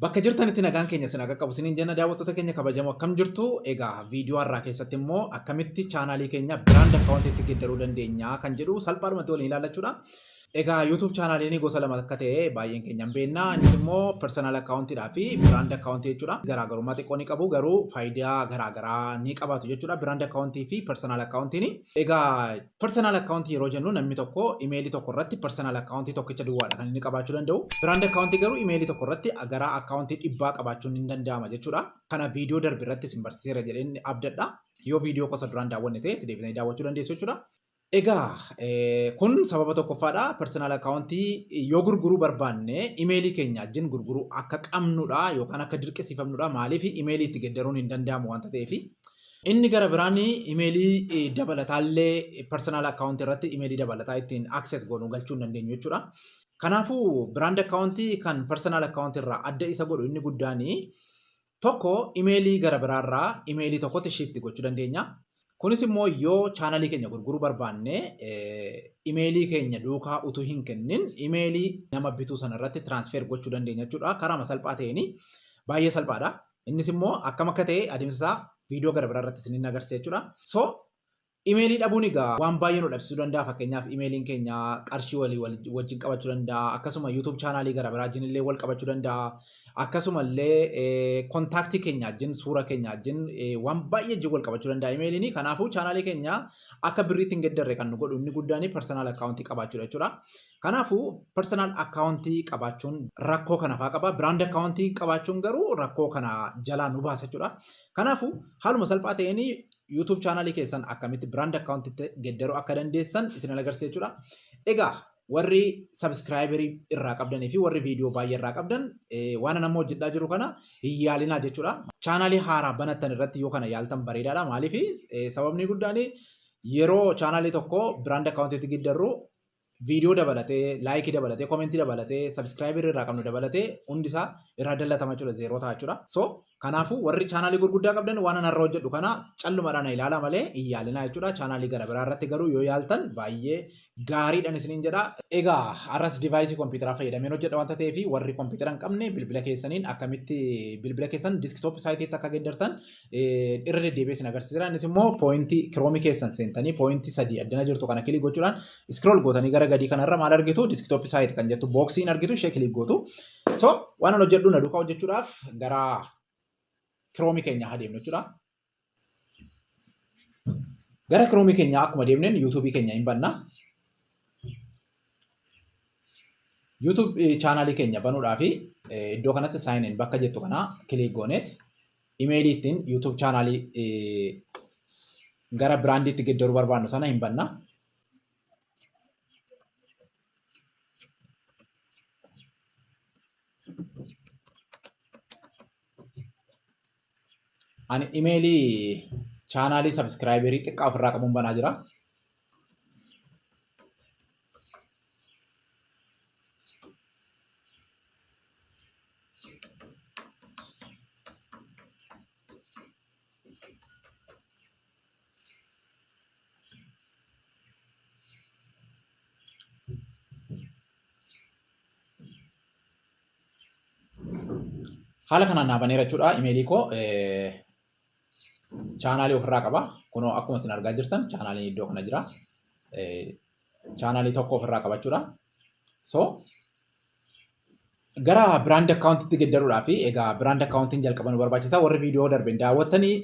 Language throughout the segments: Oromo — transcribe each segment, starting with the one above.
Bakka jirtanitti nagaan keenya isin haa qaqqabu isiniin jenna daawwattoota keenya kabajamoo akkam jirtu egaa viidiyoo har'aa keessatti immoo akkamitti chaanaalii keenya biraand akkaawuntiitti geddaruu dandeenya kan jedhu salphaadhumatti waliin ilaallachuudha. Egaa YouTube chaanaaliin gosa lama akka ta'e baay'een keenya hin beekna. Innis immoo personal akkaawuntiidhaa fi biraand akkaawuntii jechuudha. Garaagarummaa xiqqoo ni qabu garuu faayidaa garaagaraa ni qabaatu jechuudha. Biraand akkaawuntii fi personal akkaawuntiin. Egaa Personal account yeroo jennu namni tokko imeelii tokko irratti personal account tokkicha duwwaadha kan inni qabaachuu danda'u. Brand account garuu imeelii tokko irratti gara account dhibbaa qabaachuun hin danda'ama jechuudha. Kana viidiyoo darbe irratti isin barsiiseera jedheen abdadha. Yoo viidiyoo kosa duraan daawwanne ta'e itti deebitanii daawwachuu dandeessu jechuudha. Egaa kun sababa tokkoffaadha. Personal account yoo gurguruu barbaanne imeelii keenya wajjin gurguruu akka qabnudha yookaan akka dirqisiifamnudha. Maaliif imeelii itti geddaruun hin danda'amu wanta ta'eefi. Inni gara biraan imeelii dabalataallee personal account irratti imeelii dabalataa ittiin access goonu galchuu hin dandeenyu jechuudha. Kanaafuu brand account kan personal account irraa adda isa godhu inni guddaan tokko imeelii gara biraarraa imeelii tokkotti shift gochuu dandeenya. Kunis immoo yoo chaanalii keenya gurguruu barbaanne imeelii keenya duukaa utuu hin kennin imeelii nama bituu sana irratti transfer gochuu dandeenya jechuudha. Karaa salphaa ta'een baay'ee salphaadha. Innis immoo akkam akka ta'e adeemsa isaa viidiyoo gara biraa irratti isiniin agarsiisa jechuudha. So imeelii dhabuun egaa waan baay'ee nu dhabsiisuu danda'a. Fakkeenyaaf imeeliin keenya qarshii walii wajjin qabachuu danda'a. Akkasuma YouTube chaanaalii gara biraa wajjin illee wal qabachuu danda'a. Akkasuma illee kontaaktii keenya wajjin suura keenya wajjin waan baay'ee wajjin wal qabachuu danda'a imeeliin. Kanaafuu chaanaalii keenya akka birriitti hin geddarre kan nu godhu inni guddaan personal account qabaachuudha jechuudha. Kanaafuu personal account qabaachuun rakkoo kana faa qaba. Brand account qabaachuun garuu rakkoo kana jalaa nu baasa jechuudha. Kanaafuu haaluma salphaa ta'een YouTube channel keessan akkamitti brand account itti geddaruu akka dandeessan isin agarsiisa jechuudha. Egaa warri subscriber irraa qabdanii fi warri viidiyoo baay'ee irraa qabdan waan nama hojjedhaa jiru kana hin yaalinaa jechuudha. Chaanaalii haaraa banattan irratti yoo kana yaaltan bareedaadha. Maaliif sababni guddaan yeroo chaanaalii tokko brand account itti geddarru viidiyoo dabalatee, laayikii dabalatee, komentii dabalatee, sabiskiraayibii irraa qabnu dabalatee hundi isaa irraa dallatama jechuudha zeeroo ta'a jechuudha. So kanaafuu warri chaanaalii gurguddaa qabdan waan anarra hojjedhu kana callumadhaan na ilaala malee hin yaalinaa jechuudha. Chaanaalii gara biraa irratti garuu yoo yaaltan baay'ee gaariidhaan isiniin jedha. Egaa har'as divaayisii kompiitaraa fayyadameen hojjedha wanta ta'eef warri kompiitara hin qabne bilbila keessaniin akkamitti bilbila keessan diskitoop saayitiitti akka geeddartan irra deddeebi'ee isin agarsiisera. Innis immoo pooyintii kiroomii keessan seentanii pooyintii sadii addana jirtu kana kilik gochuudhaan iskrool gootanii gara gadii kanarra maal argitu diskitooppii saayit kan jettu booksiin argitu ishee kilik gootu. So waan hojjedhu na duukaa hojjechuudhaaf gara kiroomii keenya haa deemnu jechuudha. Gara kiroomii keenya akkuma deemneen yuutuubii keenya hin banna. YouTube chaanaalii keenya banuudhaaf iddoo kanatti saayiniin bakka jettu kana kilik gooneet Imeelii ittiin YouTube chaanaalii gara biraandiitti geddaruu barbaannu sana hin banna. Ani imeelii chaanaalii sabiskiraayiberii xiqqaa ofirraa qabuun banaa jira. Haala kanaan naa baneera jechuudha imeelii koo. chaanaalii ofirraa qaba. Kunoo akkuma isin argaa jirtan chaanaaliin iddoo kana jira. Chaanaalii tokko ofirraa qabachuudha. So gara biraand akkaawuntiitti geddaruudhaa fi egaa biraand akkaawuntiin jalqaba nu barbaachisa. Warri viidiyoo darbe hin daawwattanii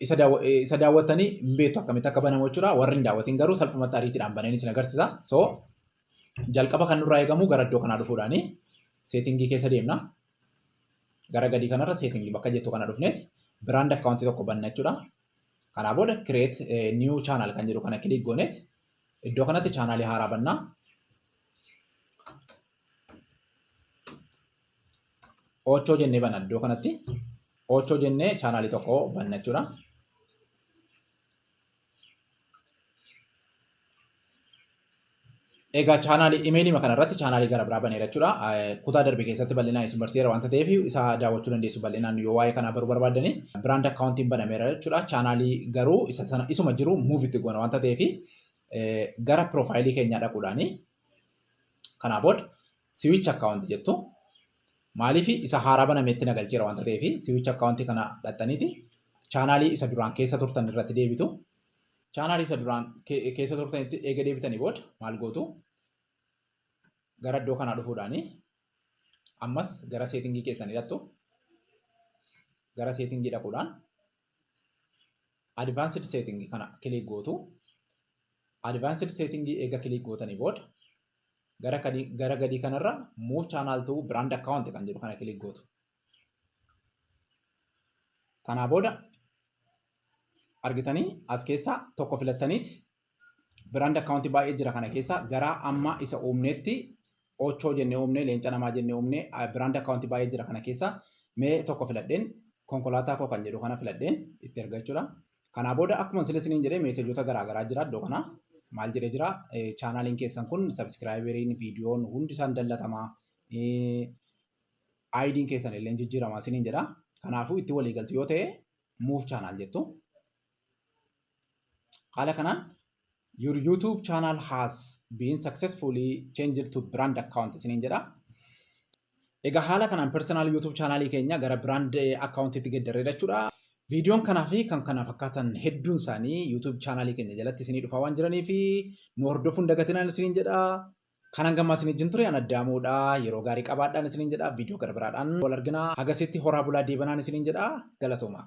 isa daawwa- eh, isa daawwattanii hin beektu akkamitti akka banamu jechuudha. Warri hin daawwatin garuu salphumatti ariitiidhaan bananii isin agarsiisa. So jalqaba kan nurraa eegamu gara iddoo kanaa dhufuudhaani seetingii keessa deemna. Gara gadii kanarra setting bakka jettu kana dhufneeti brand account tokko banna jechuudha. Kanaa booda create eh, new channel kan jedhu kana click gooneeti iddoo kanatti chaanaalii haaraa bannaa. Ochoo jennee banna iddoo kanatti. Ochoo jennee chaanaalii tokko banna jechuudha. Egaa chaanaalii imeelii kana irratti chaanaalii gara biraa baneera jechuudha. Kutaa darbe keessatti bal'inaan isin barsiiseera waanta ta'eef isa daawwachuu dandeessu bal'inaan yoo waa'ee kanaa baruu barbaaddan biraand akkaawuntiin banameera jechuudha. Chaanaalii garuu isa sana isuma jiru muuv itti goona waanta ta'eef gara piroofaayilii keenyaa dhaquudhaani. Kanaa booda siwiich akkaawunti jettu. Maaliif isa haaraa banametti na galcheera wanta ta'eef siwicha akkaawuntii kana dhaxxaniiti chaanaalii isa duraan keessa turtan irratti deebitu. Chaanaalii isa duraan keessa turtanitti eega deebitanii booda maal gootu? Gara iddoo kanaa dhufuudhaani ammas gara seetingii keessanii dhaqxu. Gara seetingii dhaquudhaan advanced setting kana click gootu advanced setting eega click gootanii booda gara kadii gara gadii kanarra move channel to brand account kan jedhu kana click gootu kanaa booda argitanii as keessaa tokko filattaniiti Biraand akkaawuntii baay'ee jira kana keessa garaa amma isa uumneetti ochoo jennee uumnee leenca namaa jennee uumnee biraand akkaawuntii baay'ee jira kana keessa mee tokko filadheen konkolaataa koo kan jedhu kana filadheen itti erga jechuudha. Kanaa booda akkuma sila isiniin jedhee meesejoota garaa garaa jira iddoo kana maal jedhee jira chaanaaliin keessan kun sabiskiraayiberiin viidiyoon hundi isaan dallatamaa aayidiin keessan illee jijjiiramaa isiniin jedha. Kanaafuu itti walii galtu yoo ta'e muuf chaanaal jettu. Haala kanaan your YouTube channel has been successfully changed to brand account isiniin jedha. Egaa haala kanaan personal YouTube channel keenya gara brand account itti geddarree jechuudha. Viidiyoon kanaa fi kan kana fakkaatan hedduun isaanii YouTube channel keenya jalatti isinii dhufaa waan jiranii fi nu hordofuun dagatinaan isiniin jedha. Kanan gammaa isin wajjin ture ana daamuudha. Yeroo gaarii qabaadhaan isiniin jedha. Viidiyoo gara biraadhaan wal argina. Hagasitti horaa bulaa deebanaan isiniin jedha. Galatoomaa.